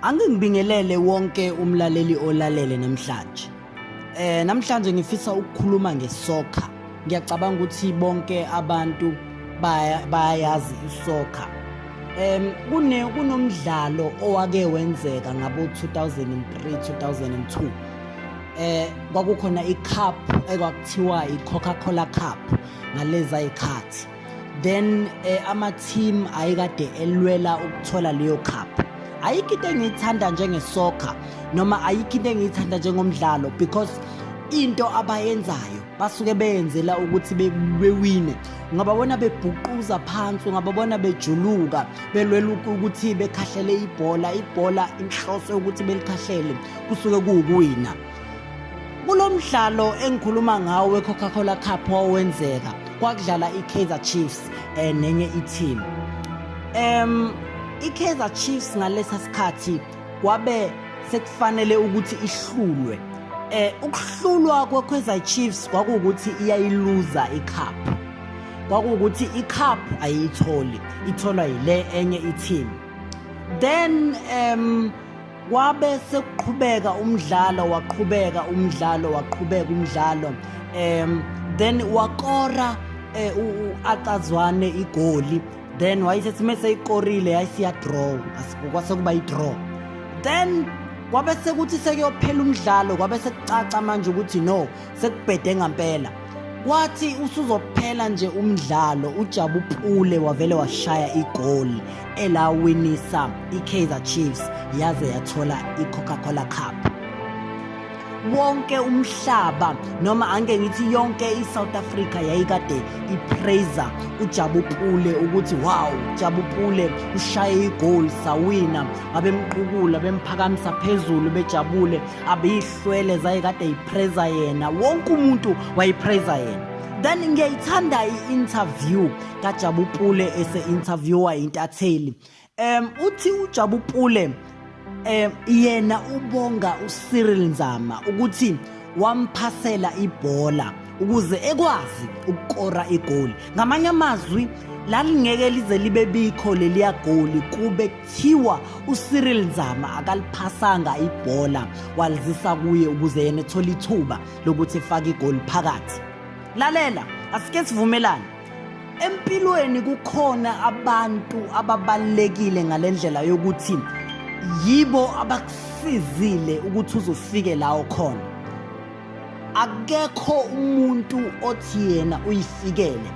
Angingibingelele wonke umlaleli olalele namhlanje. Eh namhlanje ngifisa ukukhuluma ngesoccer. Ngiyacabanga ukuthi bonke abantu bayayazi isoccer. Em kune kunomdlalo owake wenzeka ngabo 2003 2002. Eh kwakukhona icup ekwakuthiwa iCoca-Cola Cup ngaleza ikhathi. then eh, ama team ayikade elwela ukuthola leyo cup ayikho into engiyithanda njengesoccer noma ayikho into engiyithanda njengomdlalo because into abayenzayo basuke beyenzela ukuthi bewine ungababona bebhuquza phansi ungababona bejuluka belwela ukuthi bekhahlele ibhola ibhola inhloso yokuthi belikhahlele kusuke kuwukuwina Kulo mdlalo engikhuluma ngawo we-Coca-Cola Cup wawenzeka kwakudlala i-Kaizer Chiefs eh nenye i-team. Em i-Kaizer Chiefs ngalesa sikhathi kwabe sekufanele ukuthi ihlulwe. Eh ukuhlulwa kwe-Kaizer Chiefs kwakuwukuthi iyayiluza i-cup. Kwakuwukuthi i-cup ayiyitholi, itholwa yile enye i-team. Then em um, Kwabe sekuqhubeka umdlalo waqhubeka umdlalo waqhubeka umdlalo um then wakora eh, u-acazwane igoli then wayisethi uma seyikorile yayisiyadraw kwase kuba idraw then kwabe sekuthi sekuyophela umdlalo kwabe sekucaca manje ukuthi no sekubhede ngampela kwathi usuzophela nje umdlalo ujabu pule wavele washaya igoli elawinisa ikaizer chiefs yaze yathola i-coca-cola cup wonke umhlaba noma ange ngithi yonke i-south africa yayikade ipraiza ujabu pule ukuthi wow jabu pule ushaye igoli sawina babemqukula bemphakamisa phezulu bejabule abiyihlo swele zaye kade yipreza yena wonke umuntu wayipreza yena then ngiyayithanda i-interview kajabu pule ese-interviewa intatheli um uthi ujabu pule um yena ubonga ucyril nzama ukuthi wamphasela ibhola ukuze ekwazi ukukora igoli ngamanye amazwi lalingeke lize libe bikho leliya goli kube kuthiwa uCyril Nzama akaliphasanga ibhola walizisa kuye ukuze yena ethole ithuba lokuthi efake igoli phakathi lalela asike sivumelane empilweni kukhona abantu ababalekile ngalendlela yokuthi yibo abakusizile ukuthi uzofike la okhona akekho umuntu othi yena uyifikele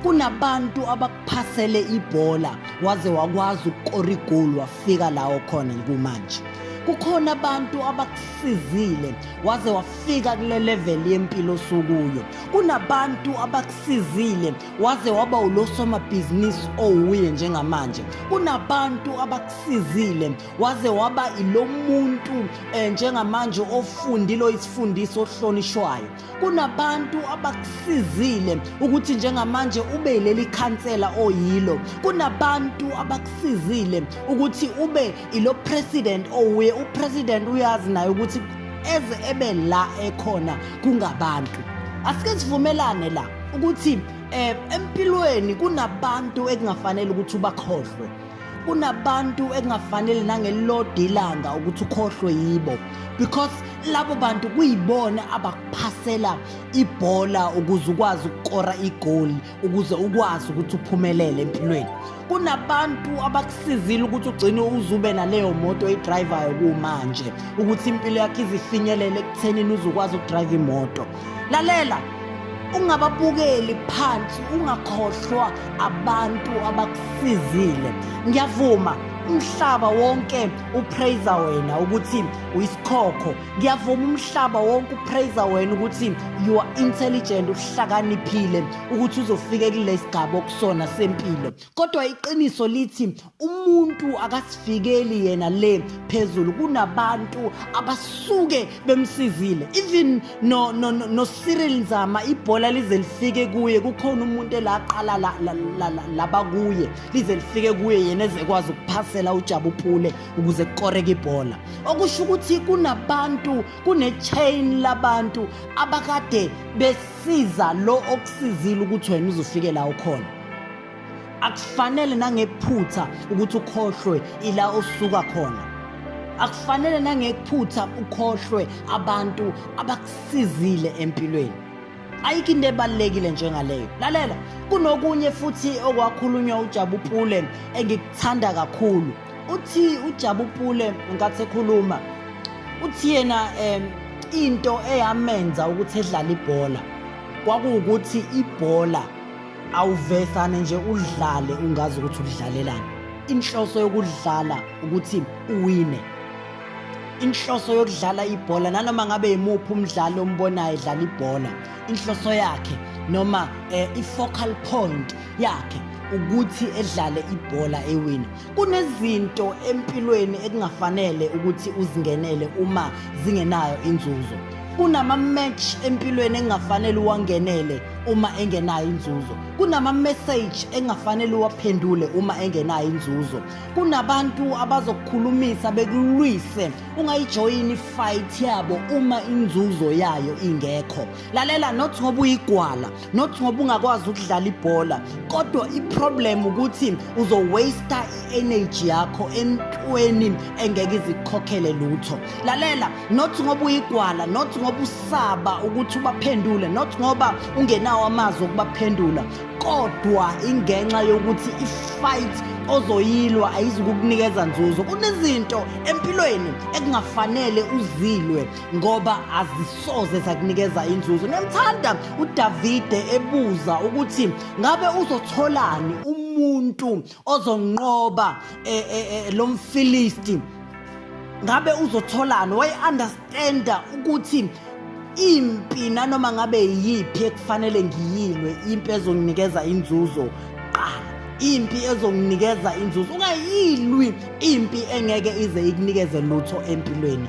kunabantu phasele ibhola waze wakwazi ukukora igoli wafika lawo khona kumanje kukhona abantu abakusizile waze wafika kule level yempilo osukuyo kunabantu abakusizile waze waba ulosomabhizinisi owuye njengamanje kunabantu abakusizile waze waba ilomuntu eh, njengamanje ofundile oyisifundiso ohlonishwayo kunabantu abakusizile ukuthi njengamanje ube yileli khansela oyilo kunabantu abakusizile ukuthi ube ilo president owuye upresident uyazi naye ukuthi eze ebe la ekhona kungabantu asike sivumelane la ukuthi eh empilweni kunabantu ekungafanele ukuthi ubakhohlwe kunabantu ekungafanele nangelilodwa ilanga ukuthi ukhohlwe yibo because labo bantu kuyibona abakuphasela ibhola ukuze ukwazi ukukora igoli ukuze ukwazi ukuthi uphumelele empilweni kunabantu abakusizile ukuthi ugcine uzube naleyo moto oyidrivayo kumanje ukuthi impilo yakho izifinyelele ekuthenini uzokwazi ukudrive imoto lalela ungababukeli phansi ungakhohlwa abantu abakusizile ngiyavuma umhlaba wonke upraiser wena ukuthi uyisikhokho ngiyavuma umhlaba wonke upraiser wena ukuthi you are intelligent uhlakaniphile ukuthi uzofike kulesi gaba okusona sempilo kodwa iqiniso lithi umuntu akasifikeli yena le phezulu kunabantu abasuke bemsizile even no no no Cyril Nzama ibhola lize lifike kuye kukhona umuntu elaqala laba kuye lize lifike kuye yena ezekwazi ukuphasela uJabu Pule ukuze kukoreke ibhola okusho ukuthi kunabantu kune chain labantu abakade besiza lo okusizile ukuthi wena uzofike la ukhona akufanele nangephutha ukuthi ukhohlwe ila osuka khona akufanele nangephutha ukhohlwe abantu abakusizile empilweni ayikho into ebalulekile njengaleyo lalela kunokunye futhi okwakhulunywa ujabupule engikuthanda kakhulu uthi ujabupule nkathi ekhuluma uthi yena um into eyamenza ukuthi edlale ibhola kwakuwukuthi ibhola awuvesane nje udlale ungazi ukuthi udlalelani inhloso yokudlala ukuthi uwine inhloso yokudlala ibhola nanoma ngabe yimuphi umdlali ombonayo edlala ibhola inhloso yakhe noma eh, i-focal point yakhe ukuthi edlale ibhola ewina kunezinto empilweni ekungafanele ukuthi uzingenele uma zingenayo inzuzo kunama-match empilweni engingafanele uwangenele uma engenayo inzuzo kunama-message engingafanele uwaphendule uma engenayo inzuzo kunabantu abazokukhulumisa bekulwise ungayijoyini ifight yabo uma inzuzo yayo ingekho lalela not ngoba uyigwala not ngoba ungakwazi ukudlala ibhola kodwa iproblem ukuthi uzowaste i-energy yakho entweni engeke izikukhokhele lutho lalela not ngoba uyigwala not ngoba usaba ukuthi ubaphendule not ngoba ungenawo amazwi okubaphendula kodwa ingenxa yokuthi ifight ozoyilwa ayizukukunikeza nzuzo kunezinto empilweni ekungafanele uzilwe ngoba azisoze zakunikeza inzuzo nemthanda uDavide ebuza ukuthi ngabe uzotholani umuntu ozonqoba e, e, e, lo mfilisti ngabe uzotholani wayeunderstanda ukuthi impi nanoma ngabe yiphi ekufanele ngiyilwe impi ezonginikeza inzuzo qala impi ezonginikeza inzuzo ungayilwi impi engeke ize ikunikeze lutho empilweni